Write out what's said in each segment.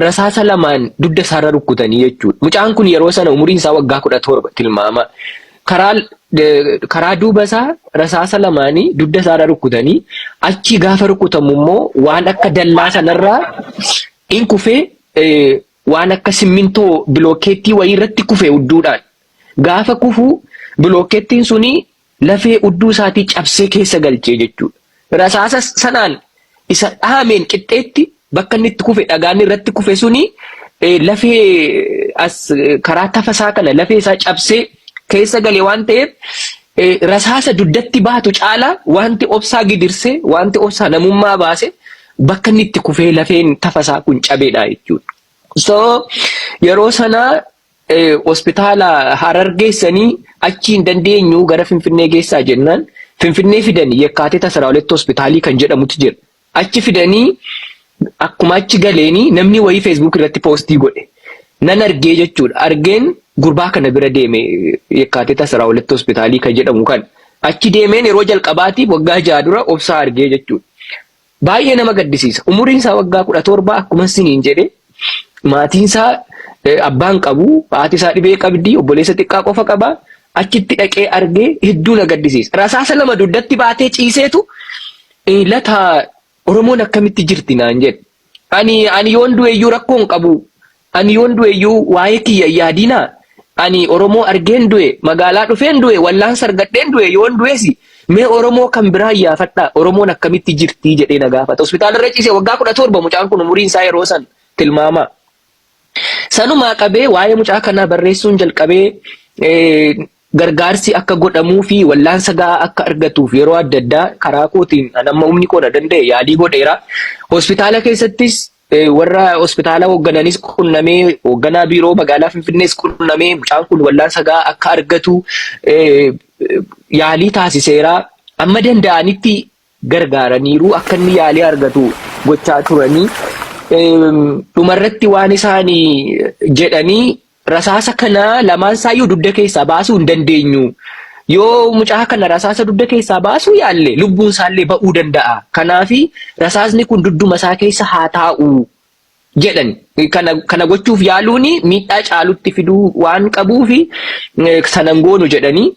rasaasa lamaan dugda isaarra rukkutanii jechuudha. Mucaan kun yeroo sana umuriin isaa waggaa kudha torba tilmaama. Karaa karaa duuba isaa rasaasa lamaanii dugda isaarra rukkutanii achi gaafa rukkutamu immoo waan akka dallaa sanarraa in kufee waan akka simmintoo bilookeettii wayii irratti kufe hudduudhaan. Gaafa kufu bilookeettiin suni Lafee udduu isaatii cabsee keessa galche jechuu dha. Rasaasa sanaan isa dhahameen qixxeetti bakka inni itti kufe dhagaan irratti kufe suni lafee as karaa tafa isaa kana lafee isaa cabsee keessa gale waan ta'eef rasaasa duddatti baatu caalaa wanti obsaa gidirsee wanti obsaa namummaa baase bakka inni itti kufee lafeen tafa isaa kun cabeedha jechuudha. So yeroo sana hospitaala Harar geessanii achii hin dandeenyu gara Finfinnee geessaa jennaan Finfinnee fidanii Yekkaatita Asraa Huletti hospitaalii kan jedhamutu jira. Achi fidanii akkuma achi galeenii namni wayii feesbuuk irratti poostii godhe nan argee jechuudha. Argeen gurbaa kana bira deeme Yekkaatita Asraa Huletti hospitaalii kan jedhamu kan achi deemeen yeroo jalqabaatiif waggaa jaha dura obsaa argee jechuudha. Baay'ee nama gaddisiisa. Umuriin isaa waggaa kudha torba akkuma isiniin jedhe maatiin isaa abbaan qabu haati isaa dhibee qabdi obboleessa xiqqaa qofa qaba achitti dhaqee argee hedduu na gaddisiisa. Rasaasa lama dugdatti baatee ciiseetu lataa Oromoon akkamitti jirti naan jedhe. Ani ani yoon du'eeyyuu rakkoon qabu Ani yoon du'e iyyuu waa'ee kiyya hin yaadinaa! Ani Oromoo argeen du'e, magaalaa dhufeen du'e, wallaansa argadheen du'e, yoon du'es mee Oromoo kan biraa iyyaafadhaa, Oromoon akkamitti jirti? jedhee na gaafata. Hospitaala irra ciise waggaa 17 mucaan kun umuriin isaa yeroo san tilmaamaa. Sanumaa qabee waa'ee mucaa kanaa barreessuun jalqabee Gargaarsi akka godhamuu fi wallaansa ga'aa akka argatuuf yeroo adda addaa karaa kootiin an amma humni koo na danda'e yaalii godheera. Hospitaala keessattis warra hospitaala hooggananis qunnamee hoogganaa biiroo magaalaa Finfinnees qunnamee mucaan kun wallaansa ga'aa akka argatu yaalii taasiseera. Amma danda'anitti gargaaraniiru, akka inni yaalii argatu gochaa turanii, dhumarratti waan isaan jedhanii rasaasa kana lamaan isaayyuu dugda keessaa baasuu hin dandeenyu. Yoo mucaa kana rasaasa dugda keessaa baasuu yaalle lubbuun isaallee ba'uu danda'a. Kanaaf rasaasni kun dugduma isaa keessa haa taa'u jedhan kana kana gochuuf yaaluun miidhaa caalutti fiduu waan qabuuf sanan goonu jedhanii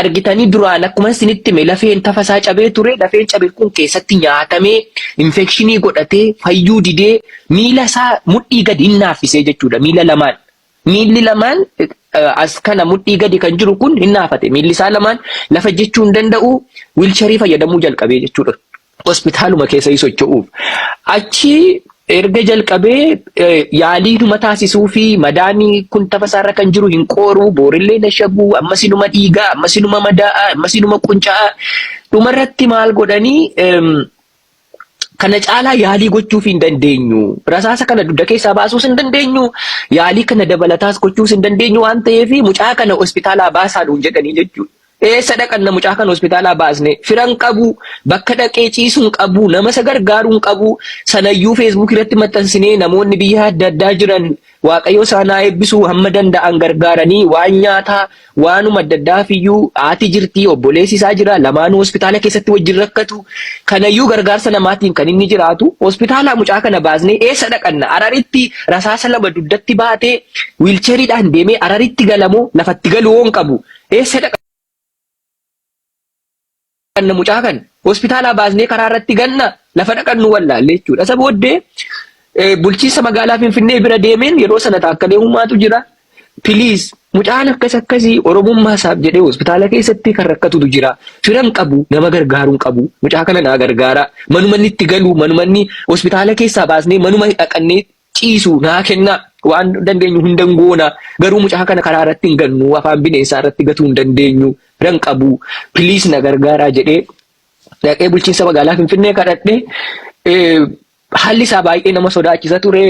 argitanii duraan akkuma isinitti hime lafeen tafa isaa cabee ture lafeen cabe kun keessatti nyaatamee infekshinii godhatee fayyuu didee miila isaa mudhii gadi hin naaffisee jechuudha miila lamaan Miilli lamaan as kana mudhii gadi kan jiru kun hin naafate. Miilli isaa lamaan lafa jechuu hin danda'u wiilcharii fayyadamuu jalqabee jechuudha. Hospitaaluma keessa hin socho'uuf. Achi erga jalqabee yaalii numa taasisuu fi madaanii kun tafa isaarra kan jiru hin qooruu, boorillee na shabuu, ammas inuma dhiigaa, ammas inuma madaa'a, ammas inuma qunca'aa. Dhumarratti maal godhanii Kana caalaa yaalii gochuuf hin dandeenyu. Rasaasa kana dugda keessaa baasuus hin dandeenyu. Yaalii kana dabalataas gochuus hin dandeenyu waan ta'eef mucaa kana hospitaalaa baasaa nuun jedhanii jechuudha. Eessa dhaqanna mucaa kana hospitaalaa baasne firan qabu bakka dhaqee ciisu hin qabu nama isa gargaaru hin qabu sanayyuu feesbuukii irratti maxxansinee namoonni biyya adda addaa jiran Waaqayyoo isaan haa eebbisuu hamma danda'an gargaaranii waan nyaataa waanuma adda addaafiyyuu haati jirti obboleessi isaa jira lamaanuu hospitaala keessatti wajjin rakkatu kanayyuu gargaarsa namaatiin kan inni jiraatu hospitaalaa mucaa kana baasnee eessa dhaqanna araritti rasaasa lama dugdatti baatee wiilcheeriidhaan deemee araritti galamoo lafatti galuu hoon qabu eessa dhaqanna. Kanna mucaa kan hospitaalaa baasnee karaa irratti ganna lafa dhaqannu wallaalle jechuudha. Isa booddee eh, bulchiinsa magaalaa Finfinnee bira deemeen yeroo sana taakkalee uumaatu jira. Piliis mucaan akkas akkasii Oromummaa isaaf jedhee hospitaala keessatti kan rakkatutu jira. Firan qabu nama gargaaruun qabu mucaa kana naa gargaara. Manuma inni itti galu manuma inni hospitaala keessaa baasnee manuma dhaqannee ciisu naa kennaa waan dandeenyu hundan goona garuu mucaa kana karaa irratti hin gannu afaan bineensaa irratti gatuu hin dandeenyu biran qabu please na gargaaraa jedhee dhaqee bulchiinsa magaalaa Finfinnee kadhadhe eh, haalli isaa baay'ee nama sodaachisa ture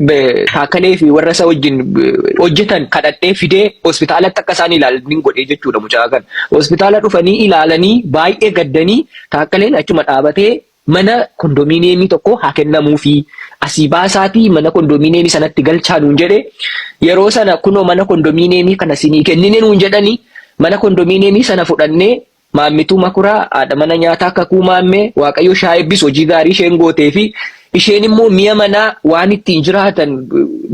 be- kaakkalee fi warra isaa wajjin eh, hojjetan kadhadhee fidee hospitaalatti akka isaan ilaalan hin godhee jechuudha mucaa kana hospitaala dhufanii ilaalanii baay'ee gaddanii kaakkaleen achuma dhaabatee Mana kondominiyeemii tokko haa kennamuufii, asii baasaatii mana kondominiyeemii sanatti galchaa nuun jedhe. Yeroo sana kunoo mana kondominiyeemii kana sinii kennine nuun jedhanii mana kondominiyeemii sana fudhannee Maammituu Makuraa haadha mana nyaataa Kakuu Maammee Waaqayyo ishee haa eebbisu hojii gaarii isheen gootee fi isheen immoo mi'a manaa waan ittiin jiraatan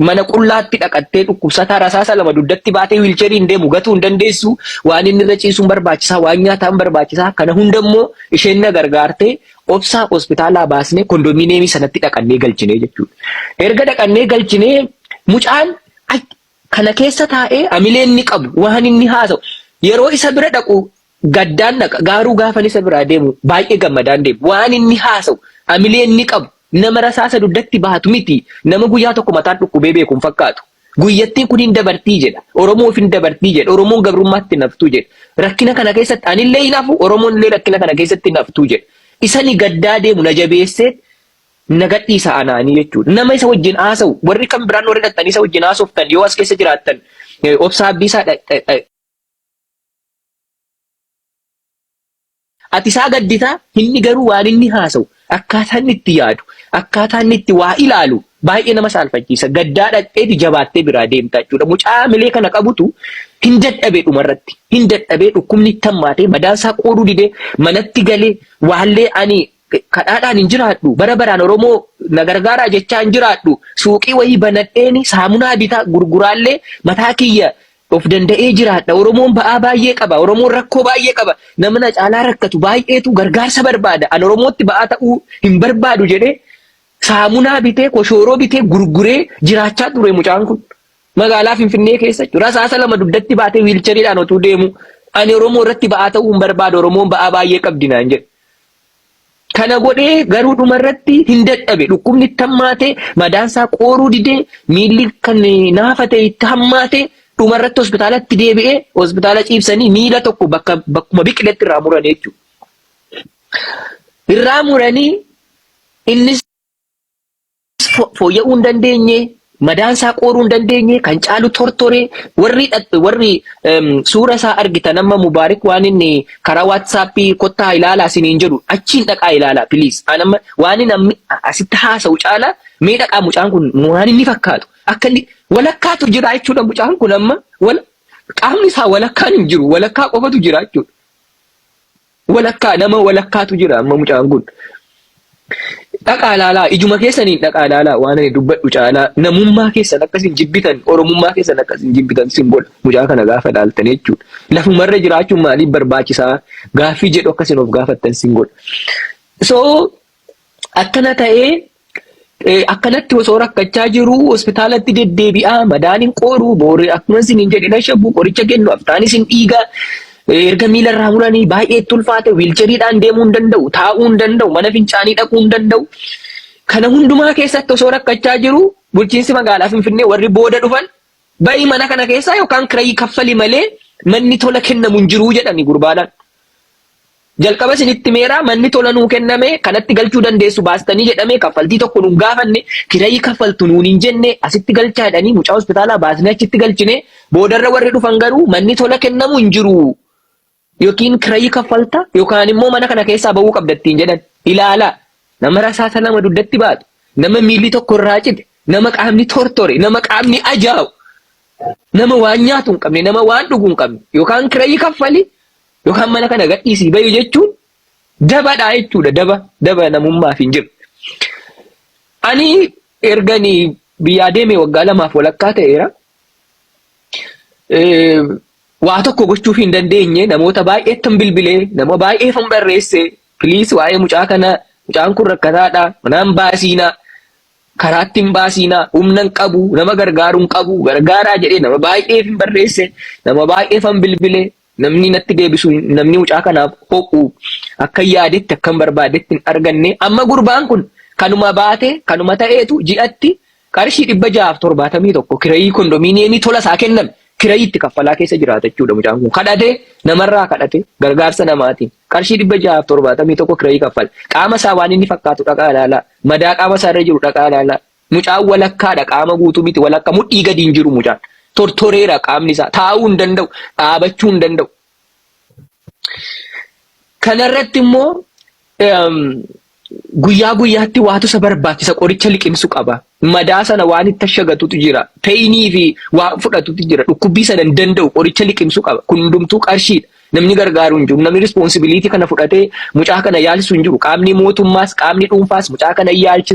mana qullaatti dhaqattee dhukkubsataa rasaasa lama dugdatti baatee wiilcheriin deemu gatuu hin dandeessu waan inni irra ciisuun barbaachisaa waan nyaataan barbaachisaa kana hunda immoo Isheen na gargaartee obsaa hospitaalaa baasnee kondominiyeemii sanatti dhaqannee galchinee jechuudha. Erga dhaqannee galchinee mucaan kana keessa taa'ee amilee inni qabu waan inni haasa'u yeroo isa bira dhaqu gaddaan dhaqa gaaruu gaafan isa biraa deemu baay'ee gammadaan deemu waan inni haasa'u amilee inni qabu nama rasaasa dugdatti baatu miti nama guyyaa tokko mataan dhukkubee beekuun fakkaatu. Guyyattiin kun hin dabartii jedha. Oromoof hin dabartii jedha. Oromoon gabrummaatti hin haftuu jedha. Rakkina kana keessatti anillee hin hafu, Oromoon illee rakkina kana keessatti hin haftuu jedha. Isani gaddaa deemu na jabeessee na gadhiisa anaanii jechuudha. Nama isa wajjin haasa'u warri kan biraan warri dhaqxanii isa wajjin haasoftan yoo as keessa jiraattan obsaa abdiisaa Ati isaa gaddita, inni garuu waan inni haasa'u, akkaataa inni itti yaadu, akkaataa inni itti waa ilaalu baay'ee nama saalfachiisa. Gaddaa dhaqxeeti jabaattee biraa deemta jechuudha. Mucaa hamilee kana qabutu hin dadhabe dhumarratti. Hin dadhabee dhukkubni itti hammaatee madaan isaa qooduu didee manatti galee waallee ani kadhaadhaan hin jiraadhu bara baraan Oromoo na gargaaraa jechaa hin jiraadhu suuqii wayii banadheeni saamunaa bitaa gurguraallee mataa kiyya Of danda'ee jiraadha. Oromoon ba'aa baay'ee qaba. Oromoon rakkoo baay'ee qaba. Nama na caalaa rakkatu baay'eetu gargaarsa barbaada. An Oromootti ba'aa ta'uu hin barbaadu jedhee saamunaa bitee, koshooroo bitee, gurguree jiraachaa ture mucaan kun. Magaalaa Finfinnee keessa jechuudha. Rasaasa lama dugdatti baatee wiilchariidhaan otuu deemu ani Oromoo irratti ba'aa ta'uu hin barbaadu. Oromoon ba'aa baay'ee qabdi naan jedhe. Kana godhee garuu dhuma irratti hin dadhabe. Dhukkubni itti hammaate, madaan isaa qooruu dide, miilli kan naafa ta'e itti hammaate, dhuma irratti hospitaalatti deebi'ee hospitaala ciibsanii miila tokko bakka bakkuma biqiletti irraa muranii jechuudha. Irraa muranii innis fooyya'uu hin dandeenye, madaan isaa qooruu hin dandeenye, kan caalu tortoree warri dhaq- warri em, suura isaa argitan amma Mubaarik waan inni karaa waatsaappii kottaa ilaalaa isiniin jedhu achiin dhaqaa ilaalaa piliis. An amma waan inni ammi- a- asitti haasa'u caalaa mee dhaqaa mucaan kun waan inni fakkaatu akka inni walakkaatu jira jechuudha mucaan kun amma wal qaamni isaa walakkaan hin jiru walakkaa qofatu jira jechuudha. Walakkaa nama walakkaatu jira amma mucaan kun. Dhaqaa ilaalaa ijuma keessaniin dhaqaa ilaalaa waan ani dubbadhu caalaa namummaa keessan akka isin jibbitan oromummaa keessan akka isin jibbitan isin godha mucaa kana gaafa ilaaltan jechuudha. Lafumarra jiraachuun maaliif barbaachisaa gaaffii jedhu akka isin of gaafattan isin godha. So Akkana ta'ee eh, akkanatti osoo rakkachaa jiru hospitaalatti deddeebi'aa madaan hin qooru booree akkuma isin hin jedhe nashabu qoricha kennu aftaan isin dhiiga eh, erga miila irraa muranii baay'ee itti ulfaate wiilcheriidhaan deemuu hin danda'u taa'uu hin danda'u mana fincaanii dhaquu hin danda'u. Kana hundumaa keessatti osoo rakkachaa jiru bulchiinsi magaalaa Finfinnee warri booda dhufan ba'ii mana kana keessaa yookaan kirayii kaffali malee manni tola kennamu hin jiru jedhani gurbaadhaan. Jalqaba isinitti himeera manni tola nuu kenname kanatti galchuu dandeessu baastanii jedhame kaffaltii tokko nun gaafanne kirayii kaffaltu nuun hin jenne asitti galchaa jedhanii mucaa hospitaalaa baasnee achitti galchine boodarra warri dhufan garuu manni tola kennamu hin jiru yookiin kirayii kaffalta yookaan immoo mana kana keessaa ba'uu qabda ittiin jedhan ilaala nama rasaasa lama dugdatti baatu nama miilli tokko irraa cite nama qaamni tortore nama qaamni ajaa'u nama waan nyaatu hin qabne nama waan dhugu hin qabne yookaan kirayii kaffali Yookaan mana kana gadhiisii bahi jechuun dabadha jechuudha. Daba daba namummaaf hin jiru. Ani ergani biyyaa deemee waggaa lamaaf walakkaa ta'eera. Waa tokko gochuuf hin dandeenye namoota baay'eettan bilbilee nama baay'eefan barreesse piliis waa'ee mucaa kana mucaan kun rakkataadha manaan baasiina karaatti hin baasiina humna hin qabu nama gargaaru hin qabu gargaaraa jedhee nama baay'eefin barreesse nama baay'eefan bilbilee Namni natti deebisu namni mucaa kanaaf ho'u akkan yaadetti akkan barbaadetti hin arganne amma gurbaan kun kanuma baate kanuma ta'eetu ji'atti qarshii dhibba ja'aaf torbaatamii tokko kirayii kondomiiniyeemii tola isaa kenname kirayii itti kaffalaa keessa jiraata jechuudha mucaan kun kadhate namarraa kadhate gargaarsa namaatiin qarshii dhibba ja'aaf torbaatamii tokko kirayii kaffala qaama isaa waan inni fakkaatu dhaqaa ilaalaa madaa qaama isaa irra jiru dhaqaa ilaalaa Mucaan walakkaadha qaama guutuu miti walakka mudhii gadi hin jiru mucaan tortoreera qaamni isaa taa'uu hin danda'u dhaabachuu hin danda'u. Kanarratti immoo guyyaa guyyaatti waatu isa barbaachisa qoricha liqimsu qaba madaa sana waan itti ashagatutu jira peeyinii fi waan fudhatutu jira dhukkubbii sana hin danda'u qoricha liqimsu qaba kun hundumtuu qarshiidha. Namni gargaaru hin jiru. Namni rispoonsibiliitii kana fudhatee mucaa kana yaalchisu hin jiru. Qaamni mootummaas qaamni dhuunfaas mucaa kana yaalchisa.